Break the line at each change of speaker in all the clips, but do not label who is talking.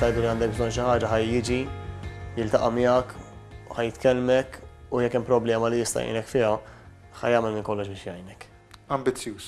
tajdu li għandek bżon xi ħaġa ħaj jiġi jiltaqa' miegħek, ħaj jitkellmek u jekk hemm problema li jista' jgħinek fiha, ħaj jagħmel minn kollox biex jgħinek. Ambizzjuż.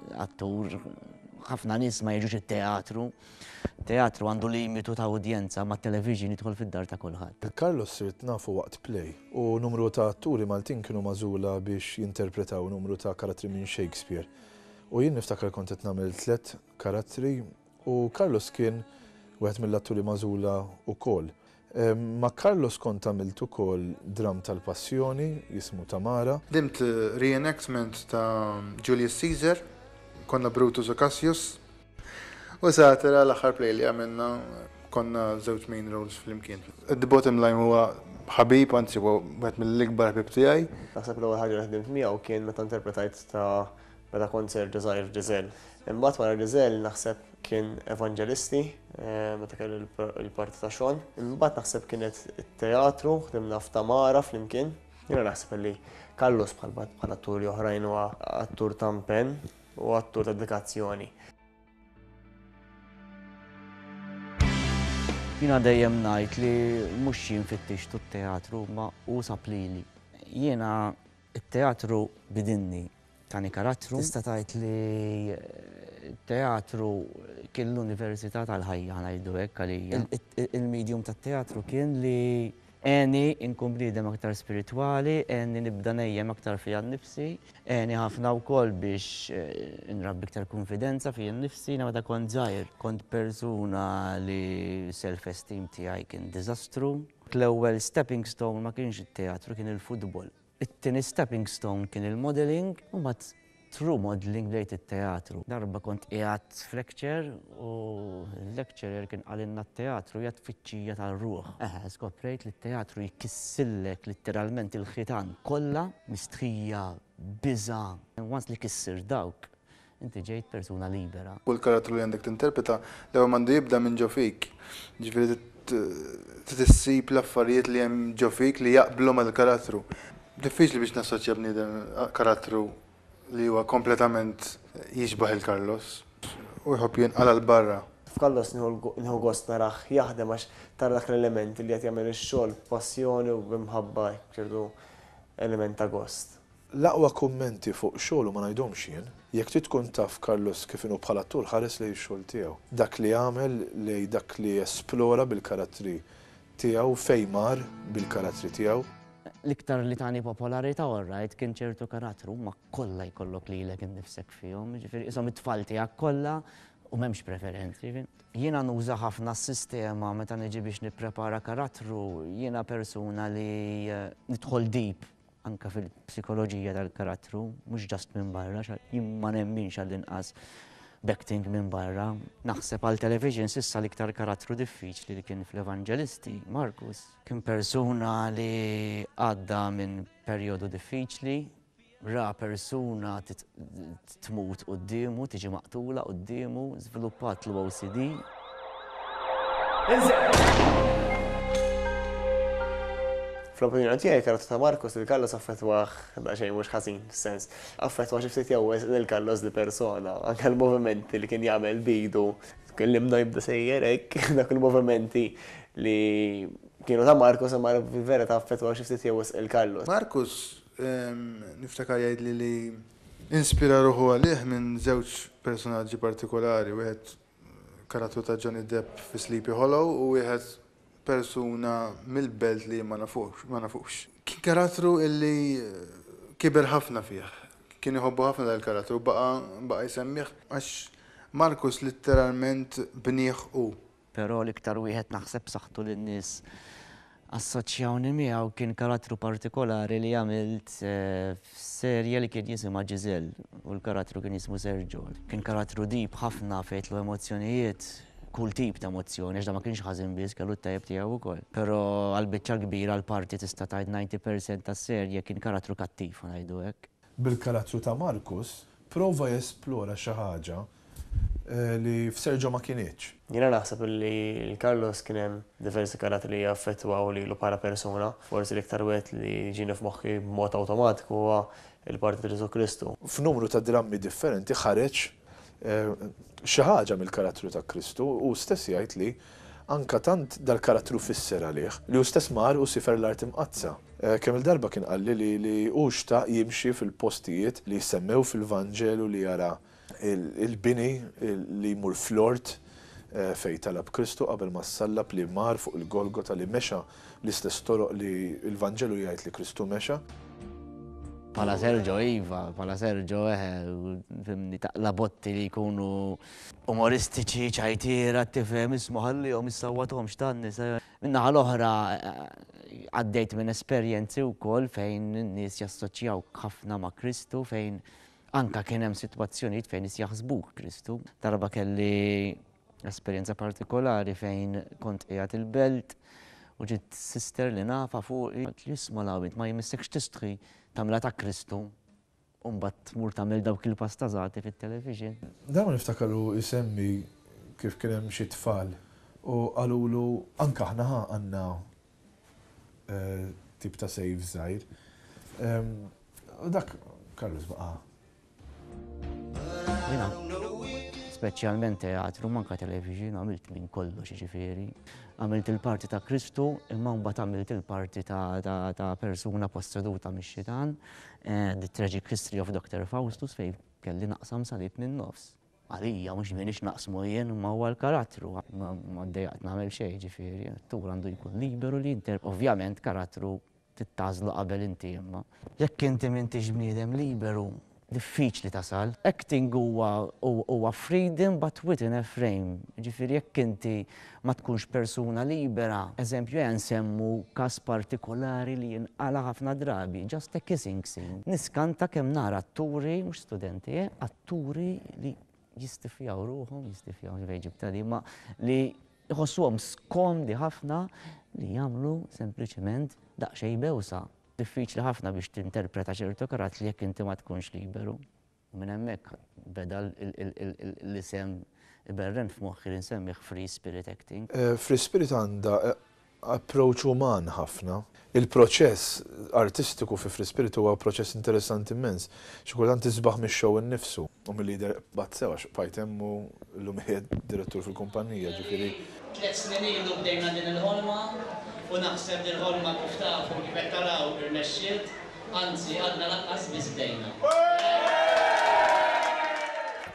attur, ħafna nies ma jiġux it-teatru. Teatru għandu limitu ta' udjenza ma' television jidħol fid-dar ta' kulħadd. Carlos sirt nafu waqt play u numru ta' atturi Maltin kienu magħżula biex jinterpretaw numru ta' karattri minn Shakespeare. U jien niftakar kont qed nagħmel tliet karattri U Carlos kien wieħed mill-atturi magħżula wkoll. Ma' Carlos kont għamilt ukoll dramm tal-passjoni jismu Tamara. Ħdimt re-enactment ta' Julius Caesar, konna Brutus u Cassius. U Satira l-aħħar play li għamilna konna żewġ main roles flimkien. The bottom line huwa ħabib, anzi huwa wieħed mill-ikbar ħbieb tiegħi. Naħseb l-ewwel ħaġa li ħdimt miegħu kien meta interpretajt ta' Meta kont serġa' żgħir Giselle. Imbagħad wara Giselle naħseb kien Evanġelisti meta kelli l-parti ta' Sean. Imbagħad naħseb kienet it-teatru, ħdimna f'Tamara flimkien. Jiena naħseb li Carlos bħal atturi oħrajn huwa attur ta' mpenn u attur ta' dedikazzjoni. Jiena dejjem ngħid li mhux jien fittixtu t-teatru imma hu sab lili. Jiena It-teatru bidinni tani karattru. Tista' tgħid li t-teatru kien l-università tal-ħajja, ngħidu hekk għalija. Il-medium tat-teatru kien li għeni nkun bniedem aktar spiritwali, għeni nibda ngħejjem aktar fija nnifsi, għeni ħafna wkoll biex nrabbi iktar kunfidenza fija nnifsi. Jiena meta kont żgħir kont persuna li self-esteem tiegħi kien diżastru. L-ewwel stepping stone ma kienx it-teatru, kien il-futbol. It-tieni stepping stone kien il-modelling, u mbagħad through modelling bdejt it-teatru. Darba kont qiegħed f'lecture u l-lecturer kien qalilna t-teatru hija tfittxija tar-ruħ. Eħe, skoprejt li t-teatru jkissillek litteralment il-ħitan kollha, mistħija, biża'. Once li kissir dawk, Inti ġejt persuna libera. U l-karattru li għandek tinterpreta, l-ewwel m'għandu jibda minn ġo fik. Jiġifieri trid issib l-affarijiet li hemm ġo fik li jaqblu mal-karattru. Diffiċli biex nassoċja bniedem karattru li huwa kompletament jixbah lil Carlos u jħobb jinqala' 'l barra. F'Carlos nieħu gost narah jaħdem għax tara dak l-element li qed jagħmel ix-xogħol b'passjoni u b'imħabba, ċertu element ta' gost. L-aqwa kummenti fuq xogħlu ma ngħidhomx jien. Jekk trid tkun taf Carlos kif inhu bħala attur ħares lejn ix-xogħol tiegħu. Dak li għamel, lejn dak li esplora bil-karattri tiegħu u fejn mar bil-karattri tiegħu. L-iktar li tani popolarità orrajt kien ċertu karattru, huma kollha jkollok lilek innifsek fihom, jiġifieri qishom it-tfal tiegħek kollha u m'hemmx preferenzi. Jiena nuża ħafna s-sistema meta niġi biex nipprepara karattru, jiena persuna li nidħol deep. anke fil-psikoloġija tal-karattru, mhux just minn barra, jien ma nemminx għall-inqas b'acting minn barra. Naħseb għal television s'issa l-iktar karattru diffiċli li kien fl-Evanġelisti, Markus. Kien persuna li għadda minn perjodu diffiċli, ra persuna Tmut quddiemu, tiġi maqtula quddiemu, żviluppat l-OCD. Fl-opinjoni tiegħi l-karattru ta' Marcus lil Carlos affettwah daqsxejn mhux ħażin, f'sens. Affettwah xi ftit jew wisq lil Carlos li persona. Anke l-movimenti li kien jagħmel b'idu, tkellimna jibda sejjer hekk, dawk il-movimenti li kienu ta' Marcus imma li fil-verità affettwaw xi ftit jew wisq lil Carlos. Marcus, niftakar jgħidli li Inspira ruħu għalih minn żewġ personaġġi partikolari, wieħed karattru ta' Johnny Depp fi Sleepy Hollow u wieħed persuna mill-belt li jien ma nafux, ma nafux. Kien karattru illi kiber ħafna fih. Kien iħobbu ħafna dan il-karattru u baqa' baqa' jsemmih għax Markus litteralment bnieh hu. Però l-iktar wieħed naħseb b'saħħtu li n-nies assoċjawni miegħu kien karattru partikolari li għamilt f'serje li kien jisimha Giselle u l-karattru kien jismu Sergio. Kien karattru deep ħafna fejn jitlu emozzjonijiet, kull tip ta' emozzjoni għax dan ma kienx ħażin biss kellu t-tajjeb tiegħu wkoll. Però għall-biċċa l-kbira l-parti tista' tgħid 90 percent tas-serje kien karattru kattiv, ħa ngħidu hekk. Bil-karattru ta' Markus, prova jesplora xi ħaġa li f'Sergio ma kinitx. Jiena naħseb li l Carlos kien hemm diversi karattri li jaffettwaw lilu bħala persuna. Forsi l-iktar wieħed li jiġini f'moħħi b'mod awtomatiku huwa l-parti ta' Ġesù Kristu. F'numru ta' drammi differenti ħareġ xi ħaġa mill-karattru ta' Kristu, hu stess jgħid li anke tant dal-karattru fisser għalih, li hu stess mar u siefer l-Art Imqaddsa. Kemm-il darba kien qalli li li hu xtaq jimxi fil-postijiet li jissemmew fil-Vanġelu li jara l-bini li jmur fl-ort fejn talab Kristu qabel ma ssallab, li mar fuq il-Golgota, li mexa L-istess toroq li l-Vanġelu jgħid li Kristu mexa. Pala Sergio iva, pala Sergio eħe, fimni taqla botti li jkunu umoristiċi, ċajtira, tifem, ismu ħalli jom jissawatom xtan nisa. Minna għal-oħra għaddejt minn esperienzi u kol fejn n-nis jassoċjaw ħafna ma' Kristu, fejn anka kienem situazzjoniet fejn nis jaħsbu Kristu. Darba kelli Esperjenza partikolari fejn kont qiegħed il-belt u ġiet sister li nafha fuqi għedt li isma' l-għawid ma jmissekx tistħi tagħmilha ta' Kristu u mbagħad tmur tagħmel dawk il-pastazati fit-television. Dejjem niftakar hu jsemmi kif kien hemm xi tfal u qalulu anke aħna ħa għandna tip ta' sejf żgħir u dak Carlos baqa' speċjalment teatru, manka television, għamilt minn kollox ġifiri. Għamilt il-parti ta' Kristu, imma mbagħad għamilt il-parti ta' persuna posseduta mix-xitan, eh, The Tragic History of Dr. Faustus, fej kelli naqsam salib minn nofs. Għalija, mux minix naqsmu jien ma huwa l-karattru, ma d-dejaqt namel xej ġifiri, tur għandu jkun liberu li jinter, ovvjament karattru Trid tagħżlu qabel inti imma. Jekk inti m'intix bniedem liberu, diffiċli tasal. Acting huwa huwa freedom but within a frame. Jiġifieri jekk inti ma tkunx persuna libera, eżempju ejja nsemmu każ partikolari li jinqala' ħafna drabi, just a kissing scene. Niskanta kemm nara atturi, mhux studenti eh, atturi li jistifjaw ruħhom, jistifjaw, mhux naf fejn ġibtha di, imma li Iħossuhom skomdi ħafna li jagħmlu sempliċement daqsxejn bewsa. Diffiċli ħafna biex tinterpreta ċertu karazzi jekk inti ma tkunx liberu. U minn hemmhekk beda l-isem iberren f'moħħi li nsemmih free spirit acting. Free spirit għandha approach uman ħafna. Il-proċess artistiku fi Free Spirit huwa proċess interessanti immens. Xi kultant isbaħ mix-show innifsu. U milli jidher qbad sew għax bqajt hemm u llum qiegħed direttur fil-kumpannija, ġifieri. Tliet snin ilu bdejna din il-ħolma u naħseb li l-ħolma kif tafu u kif qed taraw irnexxiet, anzi għadna lanqas biss bdejna.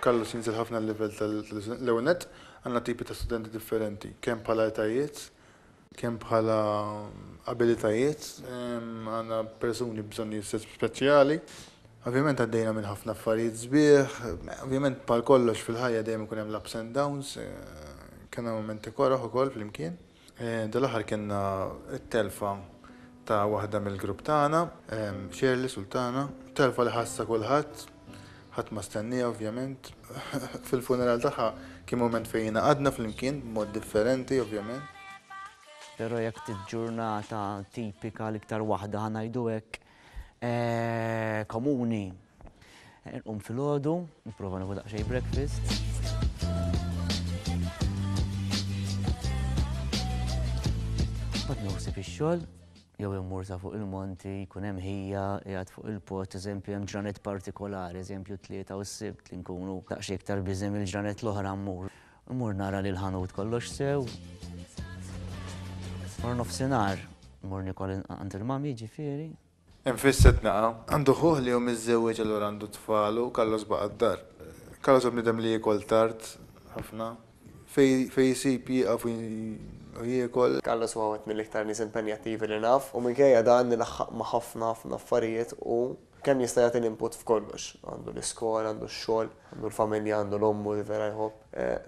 Carlos jinżel ħafna l-livell tal-iżvilupp. L-ewwel nett, Għandna tipi ta' studenti differenti, kemm bħala etajiet, kemm bħala abilitajiet, għandna persuni b'bżonnijiet speċjali, ovvjament għaddejna minn ħafna affarijiet sbieħ, ovvjament bħal kollox fil-ħajja dejjem ikun hemm l-ups and downs, kellna mumenti koroh ukoll flimkien. Dal-aħħar kellna t-telfa ta' waħda mill-grupp tagħna, Shirley Sultana, telfa li ħassa kulħadd, ħadd ma stennieha ovvjament. Fil-funeral tagħha kien mument fejn ingħaqadna flimkien b'mod differenti ovvjament. Però jekk tiġġurnata tipika l-iktar waħda ħa ngħidu hekk, komuni. Nqum fil-ħodu, nipprova nieħu daqsxejn breakfast. Bad nħossib ix-xogħol, jew immur sa fuq il-monti, jkun hemm ħija, qiegħed fuq il-post, eżempju hemm ġranet partikolari, eżempju tlieta u s-sibt li nkunu daqsxejn iktar biżem il-ġranet l-oħra mmur. Immur nara li l-ħanut kollox sew. Wara nofsinhar immur niekol għand il-mami ġifieri. Hemm fis-Sidnaqa. Għandu ħuh li hu miżżewweġ allura għandu tfal u Carlos baqa' d-dar. Carlos hu bniedem li jiekol tard ħafna. Fejn isib jieqaf u jiekol. Carlos huwa wieħed mill-iktar nies impenjattivi li naf u minkejja dan ilaħħaq ma' ħafna ħafna affarijiet u. Kemm jista' jagħti l-input f'kollox. Għandu l-iskola, għandu x-xogħol, għandu l-familja, għandu l-ommu li vera jħobb,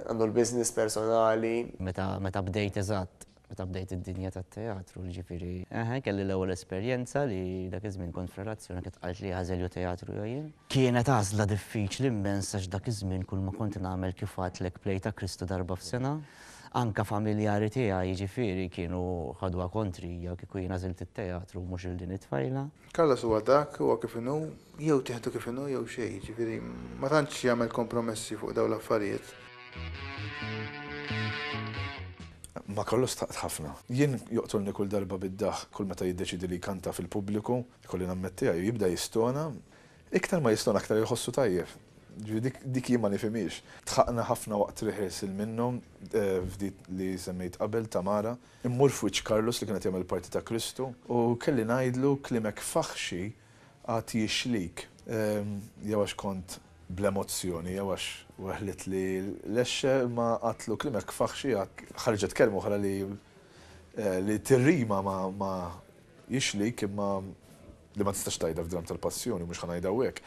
għandu l-business personali. Meta, meta bdejt eżatt, meta bdejt id-dinja tat-teatru, jiġifieri. Eħe, kelli l-ewwel esperjenza li dak iż-żmien kont f'relazzjoni kienet tqajt li jaħżel jew teatru jew jien. Kienet għażla diffiċli immens għax dak iż-żmien kulma kont nagħmel kif għadtlek play ta' Kristu darba f'sena. Anke familjari tiegħi, jiġifieri, kienu ħaduha kontrija kieku jien għażilt it-teatru u mhux lil din it-tfajla. Carlos huwa dak, huwa kif inhu, jew tieħdu kif inhu jew xejn, jiġifieri ma tantx jagħmel kompromessi fuq dawn l-affarijiet. Ma' Carlos taqt ħafna. Jien joqtolni kull darba bid-daħk kull meta jiddeċiedi li jkanta fil-pubbliku, ikolli nammettiha, jew jibda jistona. Iktar ma jistona aktar iħossu tajjeb. Jiġifieri dik jien ma nifhimhiex. Dħaqna ħafna waqt rehearsal minnu, f'dik li semmejt qabel, Tamara. Immur f'wiċċ Carlos li kien qed jagħmel parti ta' Kristu u kelli ngħidlu kliemek faħxi għad jixlik. Jew għax kont bl-emozzjoni jew għax weħlitli l-għexxa imma għadtlu kliemek faħxi għad. Ħarġet kelma oħra li tirrima ma' Jixlik imma li ma tistax tgħidha f'dramm tal-Passjoni, mhux ħa ngħidha hawnhekk.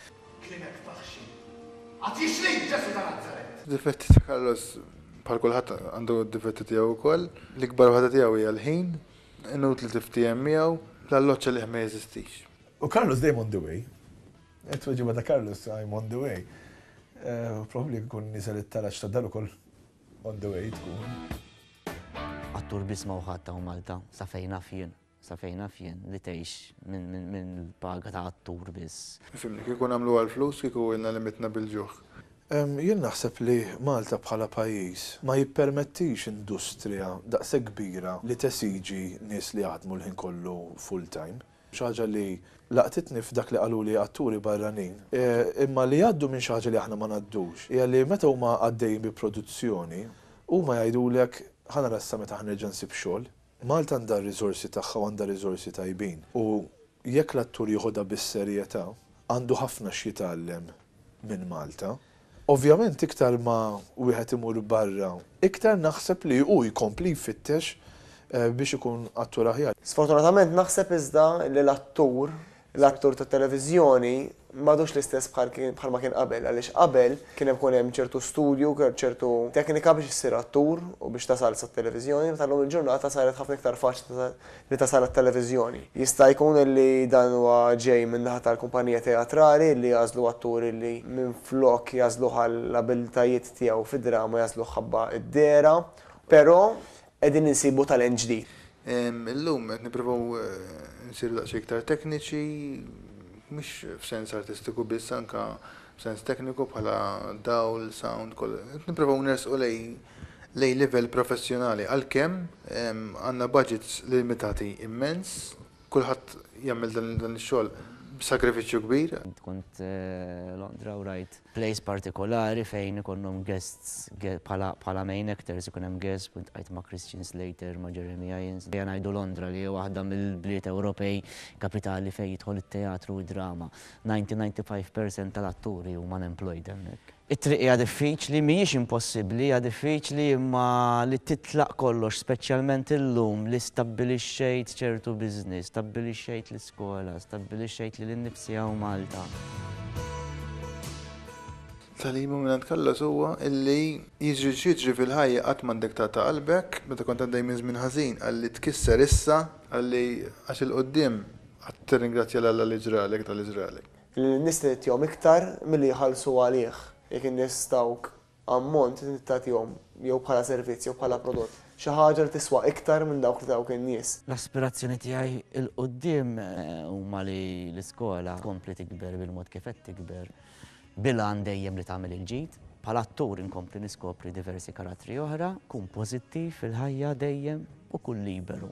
Kien hekk taħxin. Għad jixlik Ġesù ta' Nazaret! Difetti ta' Carlos, bħal kulħadd għandu d-difetti tiegħu wkoll. L-ikbar waħda tiegħu hija l-ħin, inutli tiftiehem miegħu, l-alloġġ għalih ma jeżistix. U Carlos dejjem on the way. It-tweġiba ta' Carlos, I'm on the way. Probabbli jekk ikun nieżel it-taraġ tad-dar ukoll On the way tkun. Attur b'isma u ħadd hawn Malta, sa fejn naf jien, sa fejn naf jien, li tgħix minn paga ta' attur biss. Ifhimni, kieku nagħmlu għall-flus kieku ilna li mitna bil-ġuħ. Jien naħseb li Malta bħala pajjiż ma jippermettix industrija daqshekk kbira li tesiġi nies li jaħdmu l-ħin kollu full-time. Xi ħaġa li laqtitni f'dak li qaluli atturi barranin, imma li jgħaddu minn xi ħaġa li aħna ma ngħaddux, hija li meta huma għaddejjin bi produzzjoni, huma jgħidulek, ħa nara issa meta ħa nerġa' nsib xogħol. Malta għandha r-riżorsi tagħha u għandha riżorsi tajbin u jekk l-attur jiħodha bis-serjetà, għandu ħafna x'jitgħallem minn Malta. Ovvjament iktar ma wieħed imur barra, iktar naħseb li hu jkompli jfittex biex ikun attur aħjar. Sfortunatament naħseb iżda li l-attur, l-attur tat-televiżjoni m'għadux l-istess bħal kien bħalma kien qabel għaliex qabel kien hemm ikun hemm ċertu studju, ċertu teknika biex issir attur u biex tasal sat-televiżjoni meta llum il-ġurnata saret ħafna iktar faċli li tasal għat-televiżjoni. Jista' jkun li dan huwa ġej min-naħa tal-kumpanija teatrali li għażlu attur li minflok jagħżluh għall-abiltajiet tiegħu fid-drama jagħżluh ħabba d-dehra. Però qegħdin insibu talent ġdid. Illum qed nipprovaw insiru daqsxejn iktar tekniċi, mhux f'sens artistiku biss anke f'sens tekniku bħala dawl, sound, qed nipprovaw nersqu lejn lejn livell professjonali għalkemm għandna budgets limitati immens, kulħadd jagħmel dan ix-xogħol b'sagrifiċċju kbir. Int kont Londra u rajt place partikolari fejn ikollhom guests bħala main actors ikun hemm guests u ltqajt ma' Christian Slater, ma' Jeremy Irons. Ejja ngħidu Londra li hi waħda mill-bliet Ewropej kapitali fejn jidħol it-teatru u d-drama. Ninety, ninety five percent tal-atturi huma unemployed hemmhekk. It-triq hija diffiċli, mhijiex impossibbli, hija diffiċli imma li titlaq kollox speċjalment illum li stabbilixxejt ċertu business, stabbilixxejt l-iskola, stabbilixxejt lili nnifsi hawn Malta. Tagħlima minn għand Kallas huwa illi jiġri x'jiġri fil-ħajja qatt m'għandek taqta' qalbek, meta kont għaddej minn żmien ħażin qalli tkisser issa, qalli għax 'il quddiem qatt tirringrazzja 'l Alla li ġralek dak li ġralek. Li lin-nies trid tagħtihom iktar milli jħallsu għalih. Jekk in-nies tawk ammont, inti trid tagħtihom, jew bħala servizz jew bħala prodott, xi ħaġa li tiswa iktar minn dawk li tawk in-nies. L-aspirazzjoni tiegħi 'l quddiem huma li l-iskola tkompli tikber bil-mod kif qed tikber, bil-għan dejjem li tagħmel il-ġid. Bħala attur inkompli niskopri diversi karattri oħra, kun pożittiv fil-ħajja dejjem u kun liberu.